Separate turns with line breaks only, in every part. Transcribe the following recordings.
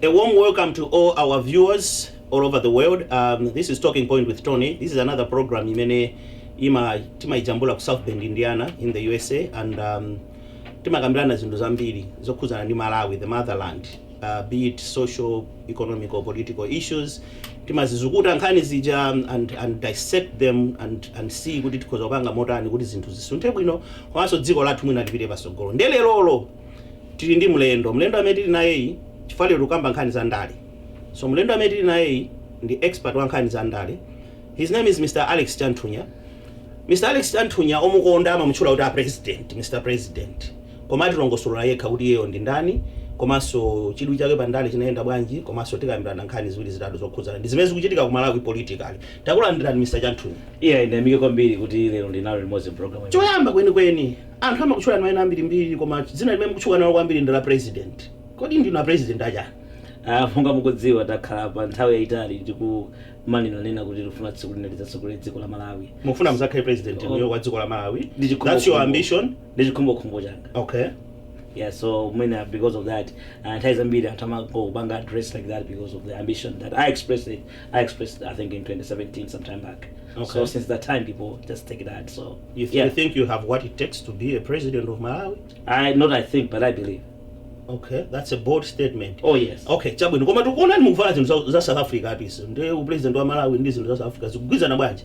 A warm welcome to all our viewers all over the world. Um, this is Talking Point with Tony. This is another program imene ima timaijambula ku South Bend, Indiana in the USA and um, timakambirana zinthu zambiri zokhudzana ndi Malawi, the motherland, uh, be it social economical political issues timazizukuta nkhani zija and, and dissect them and, and see kuti tikhoza kupanga motani kuti zinthu zisunthe bwino komanso dziko lathu mwina lipite patsogolo nde lerolo tili ndi mlendo mlendo amene tili nayeyu chifukwa lero tikukamba nkhani za ndale so mlendo amene tili nayeyu ndi expert wa nkhani za ndale his name is mr alex chanthunya mr alex chanthunya omukonda amamutchula kuti a president mr president Koma atilongosolola yekha kuti iyeyo ndi ndani komanso chidwi chake pa ndale chinayenda bwanji komanso tikambirana nkhani ziwiri zitatu zokhudzana ndi zimene zikuchitika ku Malawi politically. Takulandirani Mr Chanthunya. Iyayi ndiyamike kwambiri kuti lero ndili nanu limodzi mpulogalamu imeneyi. Choyamba kwenikweni, anthu amakutchulani maina ambirimbiri koma dzina limene mukutchuka nalo kwambiri ndi la President. Kodi ndinu a President a chani? Monga mukudziwa takhala pa nthawi yayitali tikumanenaneena kuti tikufuna tsiku lina tidzatsogolere dziko la Malawi. Mukufuna mudzakhale President inuyo wa dziko la Malawi? That's your ambition? ndi chikhumbokhumbo changa okay yeah so mwina because of that uh, nthawi zambiri anthu amangondipanga address like that because of the ambition that i expressed it i expressed i think in 2017 sometime back Okay. so since that time people just take that so you, th- yeah you think you have what it takes to be a president of malawi i not i think but i believe okay that's a bold statement oh yes okay chabwino koma tikuonani mukuvala zinthu za- za south africa apa ndi upresident wa malawi ndi zinthu za south africa zikugwirizana bwanji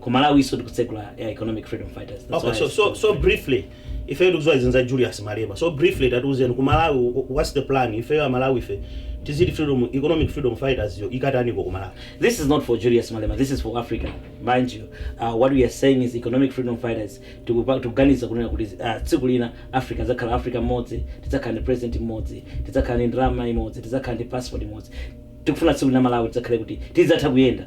ku malawi so tikutsegula ya economic freedom fighters That's Okay, why so, I- so, so briefly ifeyo tikuziwa izi za julius malema so briefly tatiuzeni ku malawi wh- what's the plan ifeyo amalawi ife za freedom economic freedom fighters yo ikutaniko ku malawi This is not for Julius Malema. This is for Africa, mind you. Uh, what we are saying is economic freedom fighters tikuganiza kunena kuti uh, tsiku lina Africa idzakhala Africa imodzi, tidzakhala ndi president modzi, tidzakhala ndi ndalama imodzi, tidzakhala ndi passport imodzi. Tikufuna tsiku lina Malawi tidzakhale kuti tidzatha kuyenda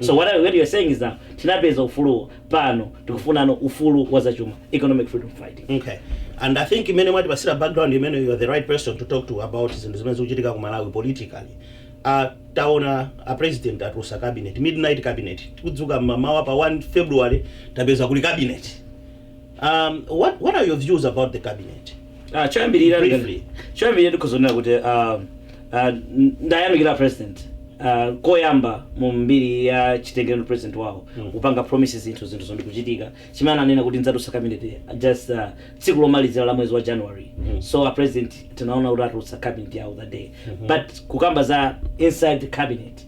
So what, I, what you're saying is that tinapeza ufulu pano tikufunano ufulu wa zachuma economic freedom fighting. Okay. And I think imene mwatipatsira background imene you are the right person to talk to about zinthu zimene zikuchitika ku Malawi politically. Uh, taona a president atulutsa cabinet midnight cabinet tikudzuka mamawa pa 1 February tapeza kuli cabinet. Um, what, what are your views about the cabinet? Ah, choyambirira Briefly. choyambirira ndikuonera kuti ah, ah, n- ndayamikira president ah, koyamba mu mbiri ya chitengero president wawo kupanga promises zinthu zinthu zo ndi kuchitika chimene ananena kuti ndzatulutsa cabinet just ah, tsiku lomalizira la mwezi wa january so a president tinaona kuti atulutsa cabinet yawo that day but kukamba za inside cabinet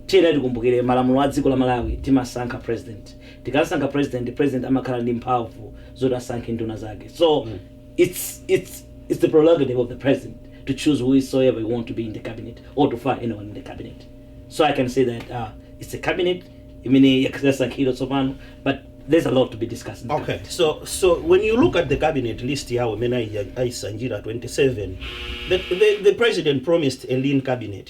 tiyeni tikumbukire malamulo a dziko la malawi timasankha president Tikasankha president, president amakhala ndi mphavu zoti asankhe nduna zake so its its its the prerogative of the president to choose whoesoever he want to be in the cabinet or to fire anyone in the cabinet so I can say that uh, its a cabinet imene yasankhidwa tsopano but there's alot to be discussed in the Okay, cabinet. so so when you look at the cabinet list yawo imene ayi- ayisanjira 27, the, the, the president promised a lean cabinet.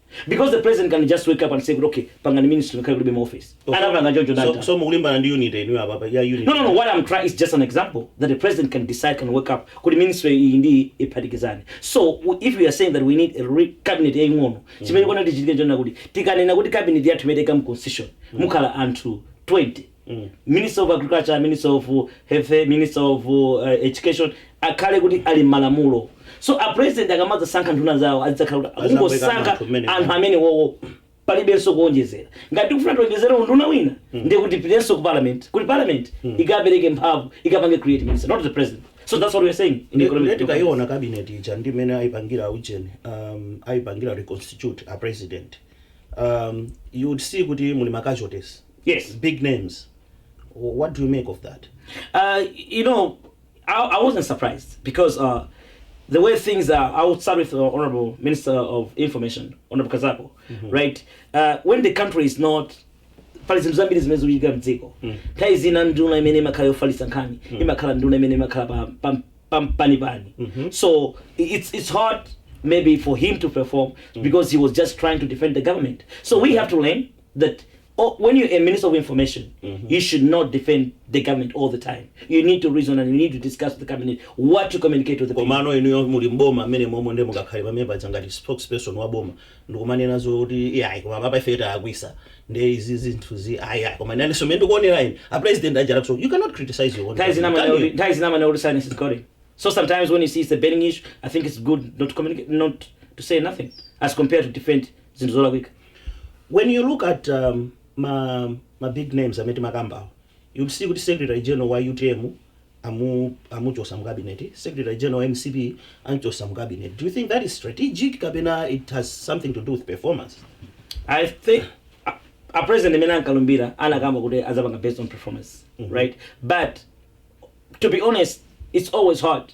Because the president can just wake up and say kuti okay pangani ministry ngakhale kulibe ma office. Oh, so, Anapanga choncho so, ndani? so mukulimbana ndi unity inuyo apapa ya unity. No, no, no. What I'm trying is just an example that the president can decide, can wake up. Kuti ministry iyi ndi iyi iphatikizane. So w- if we are saying that we need a re- cabinet yaying'ono, chimene chikuyenera chichitike nchonena kuti tikanena kuti cabinet yathu imeneyi mu constitution, mukhala anthu 20 minister of agriculture, minister of health, minister of education akhale kuti ali mmalamulo so a president akamadzasankha nduna zawo azidzakhala kuti Azakweka akungosankha anthu mmene anthu mwa- amene wowo palibenso kuwonjezera ngati tikufuna tiwonjezere unduna wina ndiye kuti tipitenso ku parliament kuti parliament ikapereke mphamvu ikapange create minister not the president so that's what we're saying in economic development. ndikaiona cabinet ija ndi imene ayipangira ujeni um, ayipangira reconstitute a president um, you would see kuti muli ma casualties Yes, big names. What do you make of that? Uh, you know, I, I wasn't surprised because uh, the way things are, I would start with the Honorable Minister of Information, Honorable Kazako, mm -hmm. right? Uh, when the country is not pali zinthu zambiri zimene zikuchitika mdziko mm. nthawi zina nduna imene imakhala yofalitsa nkhani mm. imakhala nduna imene imakhala pa, pa, pa, pani pani mm -hmm. so it's, it's hard maybe for him to perform mm. because he was just trying to defend the government so we have to learn that oh, when you're a minister of information you should not defend the government all the time you need to reason and you need to discuss with the cabinet what to communicate to the people komano inuyo muli mboma mmenemomo nde mungakhale pamene paja ngati spokesperson wa boma ndikumanena zoti iyayi koma papa ife talakwitsa ndi izi zinthu zi ayiayi koma nanenso mene ndikuonera ine a president aja so you cannot criticize your own That is not government, my can you? only- that is not my only silence is calling. So sometimes when you see it's a burning issue, I think it's good not to communicate, not to say nothing, as compared to defend zinthu zolakwika. When you look at ma ma big names amene timakambawa you'll see kuti secretary general wa utm amu amuchosa mu cabinet, secretary general wa mcp amchosa mu cabinet, do you think that is strategic kapena it has something to do with performance? I think a, a president amene ankalumbira anakamba kuti azapanga based on performance mm -hmm. right but to be honest it's always hard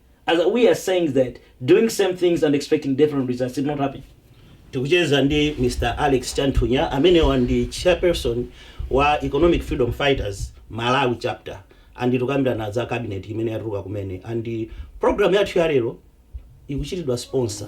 We are saying that doing same things and expecting different results did not happen. Tikucheza ndi Mr Alex Chanthunya amenewa ndi chairperson wa Economic Freedom Fighters Malawi chapter and tikukambirana za cabinet imene yatuluka kumene and program yathu ya lero ikuchitidwa sponsor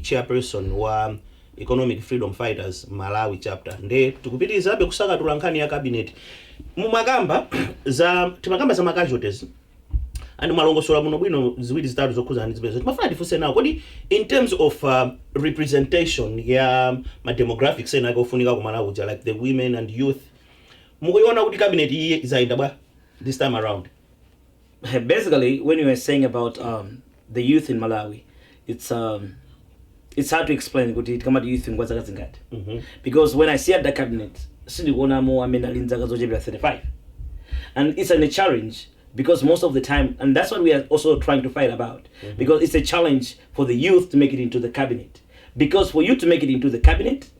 chairperson wa Economic Freedom Fighters Malawi chapter nde tikupitilizabe kusanthula nkhani ya cabinet mumakamba za timakamba za ma casualties and mwalongosola kuno bwino ziwiri zitatu zokhudzana ndi zimenezo timafuna tifunse nanga kodi in terms of uh, representation ya ma demographics ena ake ofunika ku Malawi uja like the women and youth mukuiona kuti cabinet iyi izi zayenda bwa this time around Basically when you were saying about the youth in Malawi it's it's hard to explain kuti tikamati youth ngwa zaka zingati because when I see at the cabinet sindikuonamo amene ali nzaka zochepera 35 and it's an, a challenge because most of the time and that's what we are also trying to fight about because it's a challenge for the youth to make it into the cabinet because for you to make it into the cabinet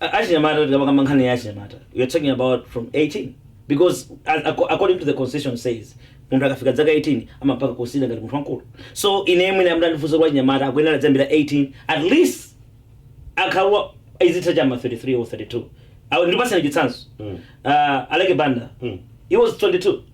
achinyamata tikamakamba nkhani ya achinyamata we are talking about from 18 because as, acco- according to the constitution says munthu akafika dzaka 18 amapangidwa consider ngati munthu wankulu so ine mwina mmene mwandifunsa kwa achinyamata akuyenera aziyambira 18 at least age yo izithera cha ma 33 or 32 Awo ndikupatsani chitsanzo Mm. uh, Aleke Banda Mm. he was 22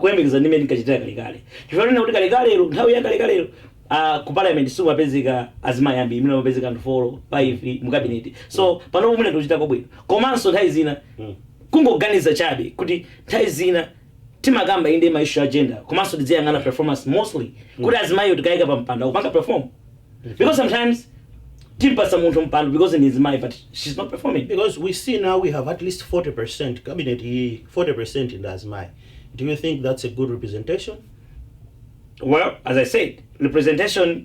kuyembekeza ndi mmene tinkachitira kalekale. Chifukwa chonena kuti kalekalelo, nthawi ya kalekalelo, a, ku Parliament simumkapezeka azimayi ambiri, mwina mumapezeka anthu foro, faifi, mu Cabinet. So, panopo mwina tikuchita kwabwino. Komanso nthawi zina, kungoganiza chabe kuti nthawi zina timakamba inde ma issue a gender, komanso tidziyang'ana performance mostly, kuti azimayiwo tikayika pampando akupanga perform? because sometimes timpasa munthu mpando because ndi mzimayi but she's not performing Because we see now we have at least 40% cabinet, eh, 40% ndi azimayi. Do you think that's a good representation? well as i said representation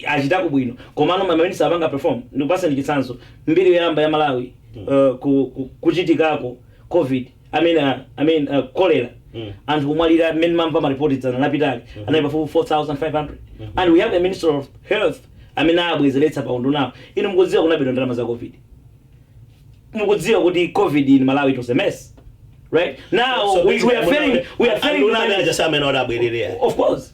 achitako bwino komano maminisita akupanga perform ndikupatsani chitsanzo mbiri yoyamba ya malawi uh, ku- ku- kuchitikako covid I mean, uh, I mean, uh, cholera mm. anthu kumwalira mmene ndamva maripoti dzana lapitali mm -hmm. anali pafupi 4500 mm -hmm. and we have a minister of health amene abwezeretsa pa undunapo inu mukudziwa kunabedwa ndalama za covid mukudziwa kuti covid in malawi it was a mess right now so, so we, we are failing we are failing of course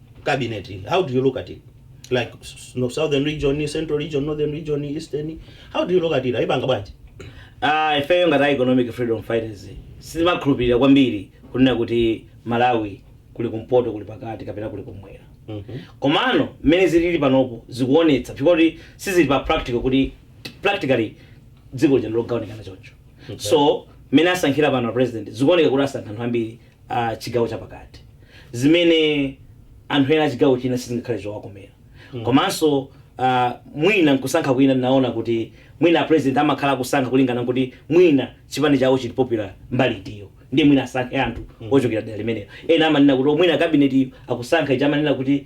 cabinet how do you look at it like no, southern region central region northern region eastern how do you look at it ayipanga bwanji Ah, ifeyo ngati a economic freedom fighters sitimakhulupirira kwambiri kunena kuti malawi kuli kumpoto kuli pakati kapena kuli kumwera komano mmene zilili panopo zikuonetsa zoti sizili pa practical kuti practically dziko lija ndilogawanikana choncho so mmene asankhira pano a president zikuoneka kuti asankha anthu ambiri a chigawo chapakati zimene anthu ena a chigawo china sizingakhale zowakomera komanso ah, mwina nkusankha kwina ndinaona kuti mwina apresident amakhala akusankha kulingana nkuti mwina chipani chawo chili popular mbali itiyo ndiye mwina asankhe anthu ochokera dera limenelo ena amanena kuti "Oh, mwina kabinetiyo akusankha ichi amanena kuti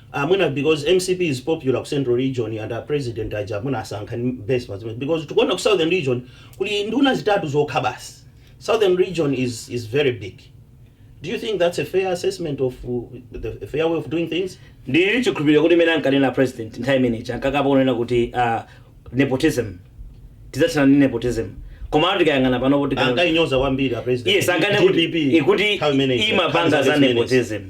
Ah mwina becoz mcp is popular ku central region and a president aja mwina asankha ku base pa zimenezo becoz tikuona ku southern region kuli nduna zitatu zokha basi southern region is is very big do u think thats a fair assessment of uh, the a fair way of doing things ndili chikhulupiriro kuti zimene ankanena president nthawi imeneja ankakamba kunena kuti ah, nepotism tidzathana ndi nepotism koma tikayang'ana pano kuti ankayinyoza kwambiri a president yes ankanena kuti DPP, ikuti nthawi imeneyi, imapanga za nthawi zimenezi. nepotism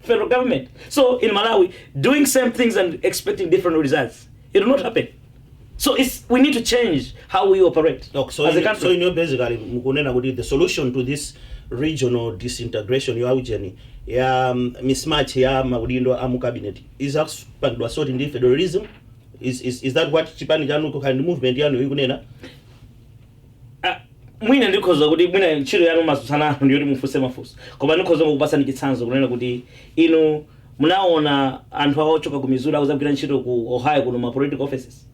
federal government. So in Malawi, doing same things and expecting different results, it will not happen. So it's, we need to change how we operate Okay, so, as a in, country. so in your basically mukunena kuti the solution to this regional disintegration ya ujeni ya um, mismatch ya maudindo a mu cabinet is akupangidwa sort ndi federalism is, is, is that what chipani chanu kukhandi movement yanu ikunena Ah, mwina ndikhoza kuti mwina ntchito yanu mumatsutsana nanu ndiyoti mufunse mafunso koma ndikhoza kukupatsani chitsanzo kunena kuti inu munaona anthu awo ochoka ku missouri akuzagwira ntchito ku ohio kuno mma political offices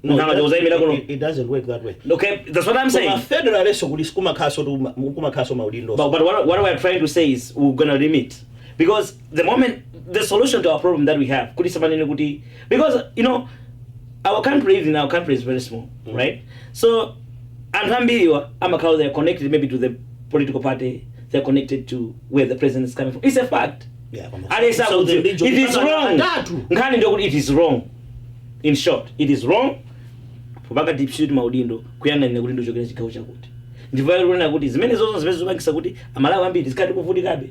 munthu angaja kuzayimira kuno It, it doesn't work that way. okay that's what i'm Koma saying federal leso kuti kumakhaso tu kumakhaso maudindo. but, but what, what we are trying to say is we're gonna limit because the moment the solution to our problem that we have kuti samanene kuti because you know our country even our country is very small right so anthu ambiriwa amakhala they are connected maybe to the political party they are connected to where the president is coming from it's a fact Yeah, koma- alesa So kuti the league it is of- wrong Atatu. nkhani ndi yakuti it is wrong in short it is wrong kupanga dispute maudindo kuyang'anira kuti ndichokera chigawo chakuti ndipo akunena kuti zimene zonse zimene zikupangisa kuti amalawi ambiri tikadzivutikabe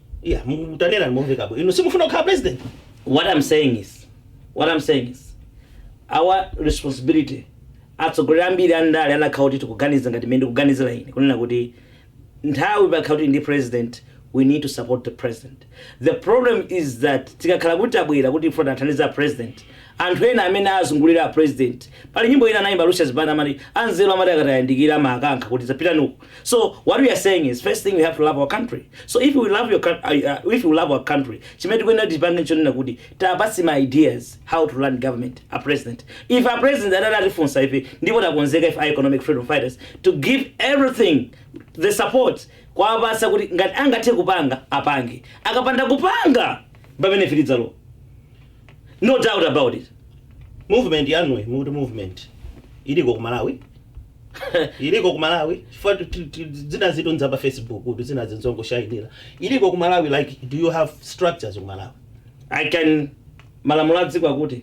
Yeah, mutanena momveka bwino. Inu simufuna kukhala president? What I'm saying is, what I'm saying is, our responsibility atsogoleri ambiri andale anakhala kuti tikuganiza ngati mmene ndikuganizira ine kunena kuti nthawi pamene kuti ndi president we need to support the president the problem is that tikakhala kuti tabwera kuti ife tithandize apresident anthu ena amene azungulira apresident pali nyimbo ina anayimba lucius banda amati anzeru amati akatayandikira mawakankha kuti dzipitani uku so what we are saying is first thing we have to love our country so if we love your coun- uh, uh, if we love our country chimene tikuyenera tichipange n'chonena kuti tiwapatse ma ideas how to run government a president ife a president atati atifunsa ife ndipo takonzeka ife a economic freedom fighters to give everything the support kuwapatsa kuti ngati angathe kupanga apange akapanda kupanga pamene afikitsa no doubt about it movement yanuyi mukuti movement iliko ku malawi iliko ku malawi chifukwa tu- tu- tu- zina zinthu n'za pa facebook kuti zina n'zongoshayinira iliko ku malawi like do you have structures ku malawi i can malamulo a dziko akuti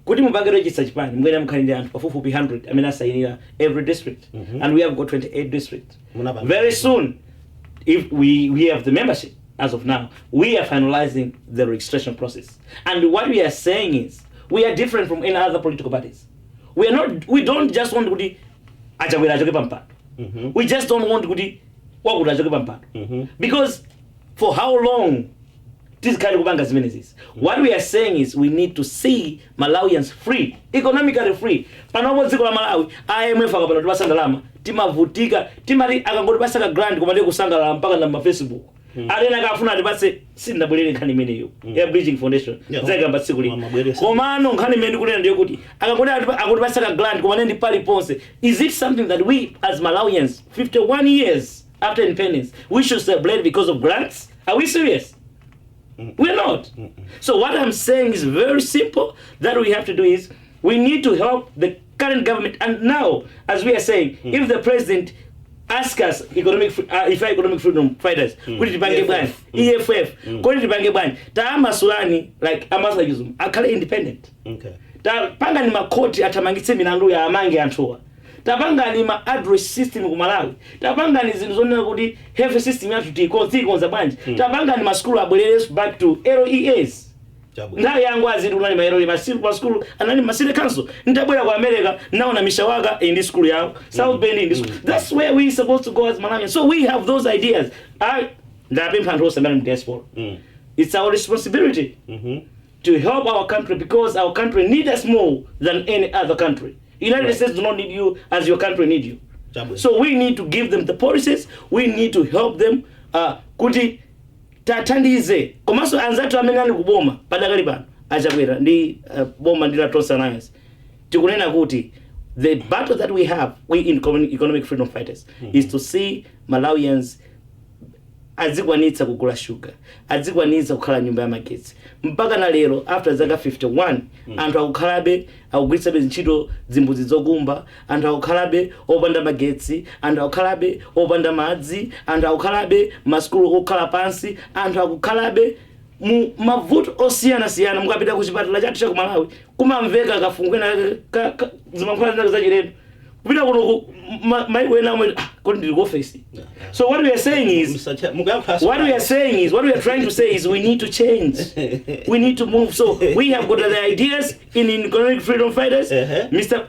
kuti mupange register chipani mukuyenera mukhale ndi anthu pafupifupi 100 amene asayinira every district Mhm. and we have got 28 districts Munapanga- very soon ife we, we have the membership as of now we are finalizing the registration process and what we are saying is we are different from any other political parties we are not we don't just want kuti achakwera achoke pa mpando Mhm. we just don't want kuti wakuti achoke pa mpando Mhm. because for how long tizikhala tikupanga zimenezizi what we are saying is we need to see malawians free economically free panopa dziko la malawi imf akapanda kutipatsa ndalama timavutika timati akangotipatsa ka grant koma ndiye kusangalala mpaka na mafacebook Mm. Ataneja ankafuna atipatse sindinabwere nkhani imeneyo mm. ya Bridging Foundation yeah. zakamba tsiku lino komano nkhani imene ndikunena ndiyo kuti akati akutipatsa ka grant koma ndiye paliponse is it something that we as Malawians 51 years after independence we should celebrate because of grants are we serious mm. we're not mm -mm. so what i'm saying is very simple that we have to do is we need to help the current government and now as we are saying mm. if the president ask us economic uh, if economic freedom fighters mm. kuti tipange bwanji EFF mm. mm. kuti tipange bwanji tawamasulani like majaji akhale independent okay. tapangani makhoti athamangitse milandu awamange anthuwa tapangani ma address system ku malawi tapangani zinthu zonena kuti health system yathu tiikonza bwanji mm. tapangani masukulu abwerere back to leas Chabwino. nthawi ya angwazi iti kunali mayeroli masiku pa sukulu anali ma city council nditabwera ku america ndaona mishawaka iyi ndi sukulu yawo south bend iyi ndi sukulu that's where we supposed to go as malawians so we have those ideas I, ndapempha anthu onse amene ali mu diaspora Mm. it's our responsibility Mhm. to help our country because our country needs us more than any other country. United Right. States do not need you as your country need you. Chabwino. So we need to give them the policies. We need to help them. Uh, kuti Tathandize komanso anzathu amene ali ku boma padakali pano a Chakwera ndi boma ndi la Tonse Alliance tikunena kuti the battle that we have we in Economic Freedom Fighters is to see Malawians adzikwanitsa kugula sugar, adzikwanitsa kukhala nyumba ya magetsi. Mpaka na lero after zaka 51 anthu akukhalabe akugwirisabe ntchito dzimbudzi zokumba, Anthu akukhalabe opanda magetsi, anthu akukhalabe opanda madzi, anthu akukhalabe masukulu okhala pansi, anthu akukhalabe mu mavuto osiyanasiyana. Mukapita ku chipatala chathu cha ku Malawi, kumamveka kafungo kena kake ka ka- zimankhwala zina zachilendo. Kupita kuno ku ma- maiko ena awa, ah, kodi ndili ku ofesi? So what we are saying is, Mr. Chair, mukuyankhulanso What we are pano. saying is, what we are trying to say is, we need to change. we need to move. So we have got the ideas in, in economic freedom fighters. Uh-huh. Mr.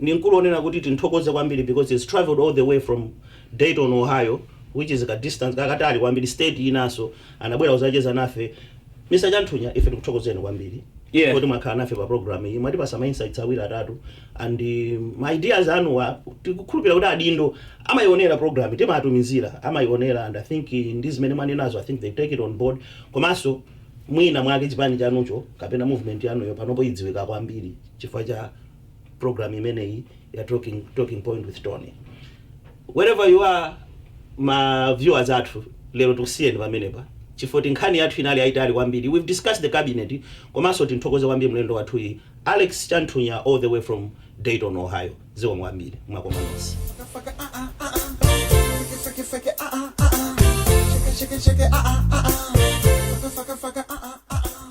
Ndi m'kulu onena kuti timthokoze kwambiri because he's travelled all the way from Dayton, Ohio which is ka distance kakatali kwambiri state yinaso anabwera kuzacheza nafe. Mr Chanthunya ife tikuthokozeni kwambiri Yeah. poti mwakhala nafe pa program iyi mwatipasa ma insights awiri atatu and um, ma ideas anuwa tikukhulupira kuti adindo amayionera programu timatumizira amayionera and i think uh, ndi zimene mwanenazo i think they take it on board komanso mwina mwake chipani chanucho kapena movement yanuyo panopo idziwika kwambiri chifukwa cha program imeneyi ya talking, talking point with tony wherever you are ma viewers athu lero tisiyeni pamenepa chifukwa choti nkhani yathu inali yayitali kwambiri we've discussed the cabinet komanso timthokoze kwambiri mlendo wathuyu alex chanthunya all the way from dayton ohio zikomo kwambiri tikumananso Faka, ah, ah, ah, ah. Fake, fake, fake, ah, ah, ah, ah. Shake, shake, shake, ah, ah, ah, ah. Faka, faka, faka, ah, ah, ah.